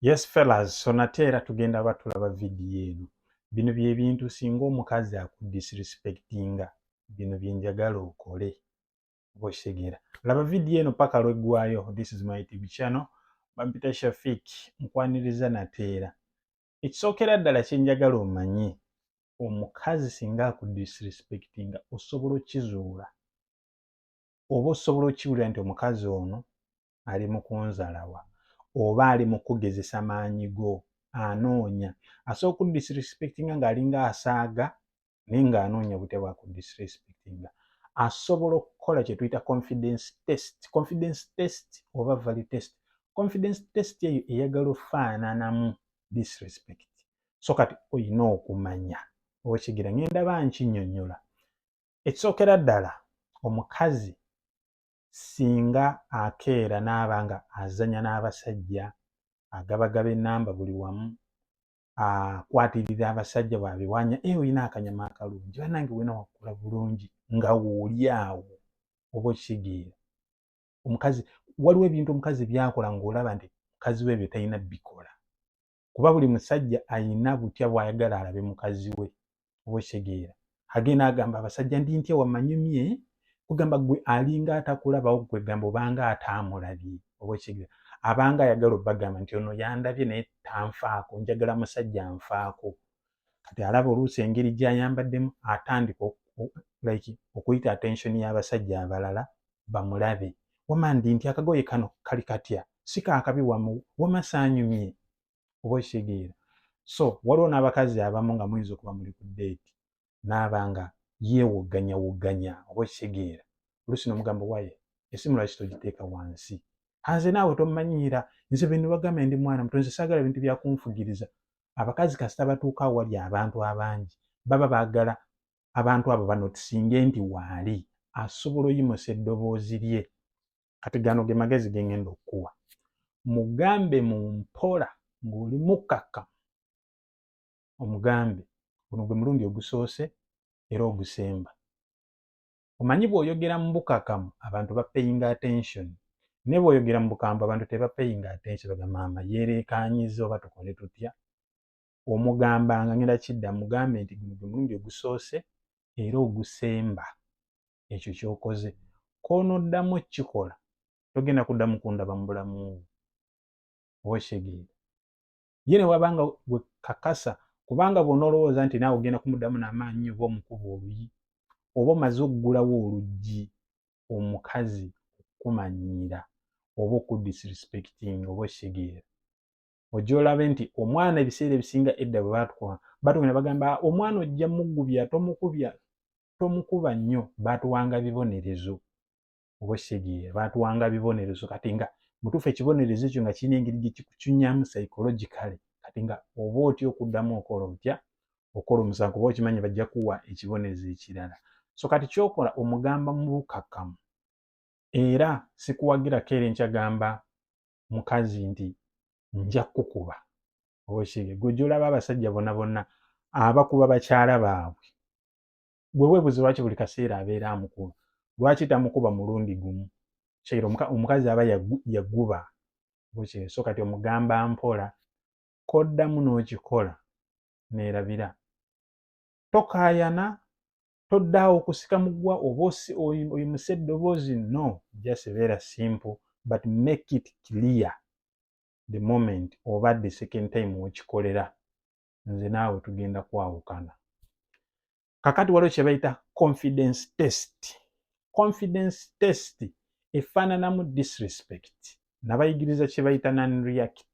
yes fellas so nate era tugenda ba tulaba vidiyo eno bino byebintu singa omukazi akudisrespectinga bino byenjagala okole bwekitegeera laba vidiyo eno paka lweggwayo this is my tv channel bampita shafik nkwaniriza nateera ekisookera ddala kyenjagala omanye omukazi singa akudisrespectinga osobola okizuula oba osobola okiwulira nti omukazi ono ali mu kunzalawa oba ali mu kugezesa maanyi go anoonya asobola okudisrespectinga ng'alinga asaaga naye ng'anoonya obutya bwa kudisrespectinga asobola okukola kye tuyita confidence test confidence test oba value test confidence test eyo eyagala ofaananamu disrespect so kati olina okumanya okigira ngenda ba nkinyonyola ekisookera ddala omukazi singa akeera n'aba nga azanya n'abasajja agabagaba enamba buli wamu akwatirira abasajja bwabiwanya e eh, olina akanyama akalungi banange wena wakula bulungi nga wooli awo oba okitegeera omukazi waliwo ebintu omukazi byakola ngaolaba nti mukazi we ebyo talina bikola kuba buli musajja ayina butya bwayagala alabe mukazi we obwesegeera agenda agamba abasajja ndi ntya wamanyumye kugamba gwe alinga atakulabawo kwegamba obanga ataamulabye obwesegeera abanga ayagala obagamba nti ono yandabye naye tanfaako njagala musajja nfaako kati alaba oluusi engeri gyayambaddemu atandika like okuyita attention y'abasajja abalala bamulabe wama ndi nti akagoye kano kali katya si kakabi wamu wama saanyumye oba okitegeera so waliwo n'abakazi abamu nga muyinza okuba muli ku deeti naaba nga yeewogganya wogganya oba okitegeera oluusi n'omugamba waye esimu lwaki togiteeka wansi hanze naawe tomanyiira nze bwe nibagamba ndi mwana mutonzi saagala bintu byakunfugiriza abakazi kasita batuuka awali abantu abangi baba baagala abantu abo banotisinge nti waali asobola oyimusa eddoboozi lye kati gano ge magezi ge ngenda okukuwa mugambe mu mpola ng'oli mukkakka omugambe guno gwe mulundi ogusoose era ogusemba omanyi bwoyogera mubukakamu abantu bapeyinga attention naye bwoyogera mubukambwe abantu tebapeyinga attention baga maama yerekanyiza oba tukole tutya omugamba nga ngenda kidda mugambe nti guno gwe mulundi ogusoose era ogusemba ekyo kyokoze konoddamu okukikola togenda kuddamu kundaba mu bulamu oba okitegeera ye ne wabanga gwe kakasa kubanga bw'onoolowooza nti naawe ogenda kumuddamu n'amaanyi oba omukuba oluyi oba omaze okugulawo oluggi omukazi okukumanyiira oba okudisrespectinga oba okitegeera ojja olabe nti omwana ebiseera ebisinga edda bwe batukuba batugenda bagamba omwana ojja mugubya tomukubya tomukuba nnyo batuwanga bibonerezo oba okitegere baatuwanga bibonerezo kati nga mutuufu ekibonerezo ekyo nga kirina engeri gye kikucunyamu psychologically kati nga oba otya okuddamu okola otya okola omusango kuba okimanyi bajja kuwa ekibonerezo ekirala so kati kyokola omugamba mu bukakkamu era sikuwagira keera enkyagamba mukazi nti nja kukuba oba okitegeere gwe gyolaba abasajja bona bonna abakuba bakyala baabwe gwe webuze lwaki buli kaseera abeera amukuba lwaki tamukuba mulundi gumu kyeira omukazi aba yaguba bukye so kati omugamba mpola koddamu n'okikola neerabira tokaayana toddaawo okusika mugwa oba oyimuse eddoboozi no just beera simple but make it clear the moment oba the second time wekikolera nze naawe tugenda kwawukana kakati waliwo kyebayita confidence test confidence test efaananamu disrespect nabayigiriza kyebayita non react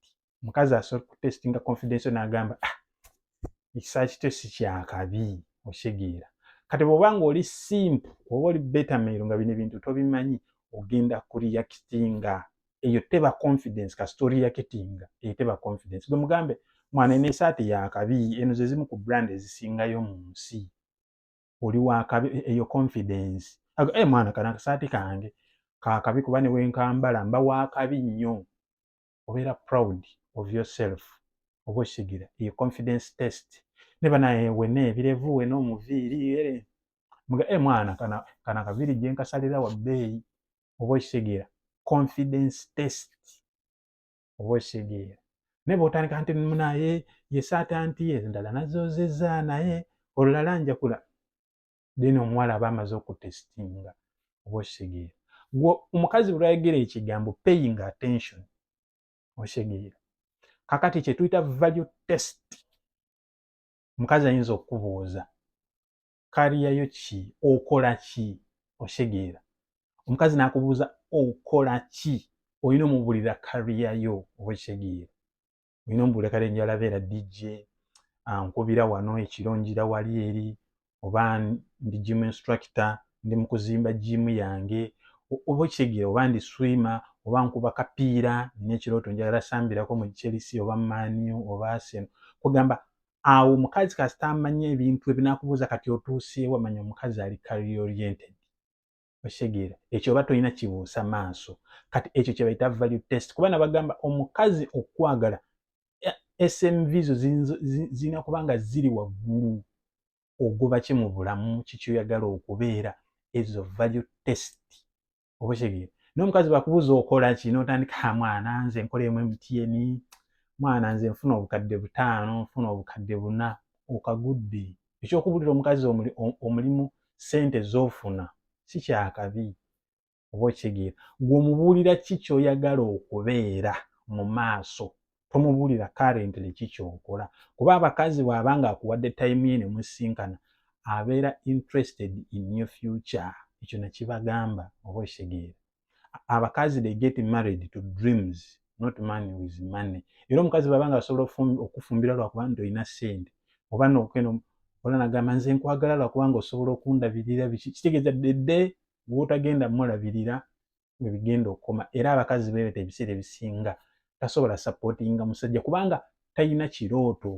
mukazi asobola kutestinga confidence nagamba ah, ekisa kito si kyakabi okitegeera kati bwoba nga oli simp oba oli betameiro nga bino ebintu tobimanyi ogenda kureactinga eyo teba confidence ka story ya ketinga eyo teba confidence gwe mugambe mwana ene sati ya kabi eno ze zimu ku brand ezisinga yo mu nsi oli wa kabi e, eyo confidence ago eh mwana kana sati kange ka kabi kuba ne wenkambala mba wa kabi nnyo obera proud of yourself obo shigira eyo confidence test ne bana ewe ne birevu we no muviri ere mga eh mwana kana kana kaviri jenka salira wa bei oba okitegeera confidence test oba okitegeera naye bwotandika nti munaye yesaata nti endala nazozeza naye olulala njakula then omuwala aba amaze okutestinga oba okitegeera gwe omukazi bwelwayogera ekigambo paying attention okitegeera kakati kyetuyita value test omukazi ayinza okukubuuza kariya yo ki okola ki oshegeera omukazi nakubuuza okola ki olina omubulira kariya yo oba ekitegeera olina omubulira kale njala beera dj ankubira wano ekiro njira wali eri oba ndi gym instructor ndi mukuzimba gym yange oba ekitegeera oba ndi swimmer oba nkuba kapiira nina ekirooto njagala sambirako mu chelsea oba maniu oba arsenal kugamba awo omukazi kasita amanya ebintu ebinakubuuza kati otuuseewa manya omukazi ali career oriented okitegeera ekyo oba tolina kibuusa maaso kati ekyo kyebayita value test kuba nabagamba omukazi okwagala smv zo zirina kuba nga ziri waggulu ogoba ki mu bulamu kikyoyagala okubeera ezo value test oba okitegere naye omukazi bakubuuza okola ki notandika ah, mwana nze nkola emu mtn mwana nze nfuna obukadde butaano nfuna obukadde buna okagudde ekyokubulira omukazi omulimu sente zofuna si kyakabi oba okitegeera gwe omubuulira ki kyoyagala okubeera mu maaso tomubuulira currently ki kyokola kuba abakazi bw'aba nga akuwadde time ye ne musinkana abeera interested in your future ekyo nakibagamba oba okitegeera abakazi they get married to dreams not money with money era omukazi bw'aba nga asobola okufumbira lwakuba nti olina sente oba nokeno ola nagamba nze nkwagala lwakuba nga osobola okundabirira biki kitegeeza dede gwotagenda mulabirira we bigenda okukoma era abakazi beebeta ebiseera ebisinga tasobola sapootinga musajja kubanga talina kirooto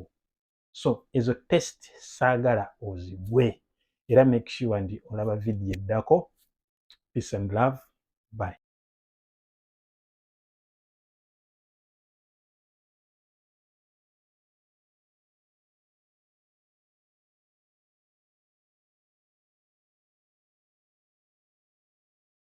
so ezo test saagala ozigwe era make sure ndi olaba vidiyo eddako peace and love bye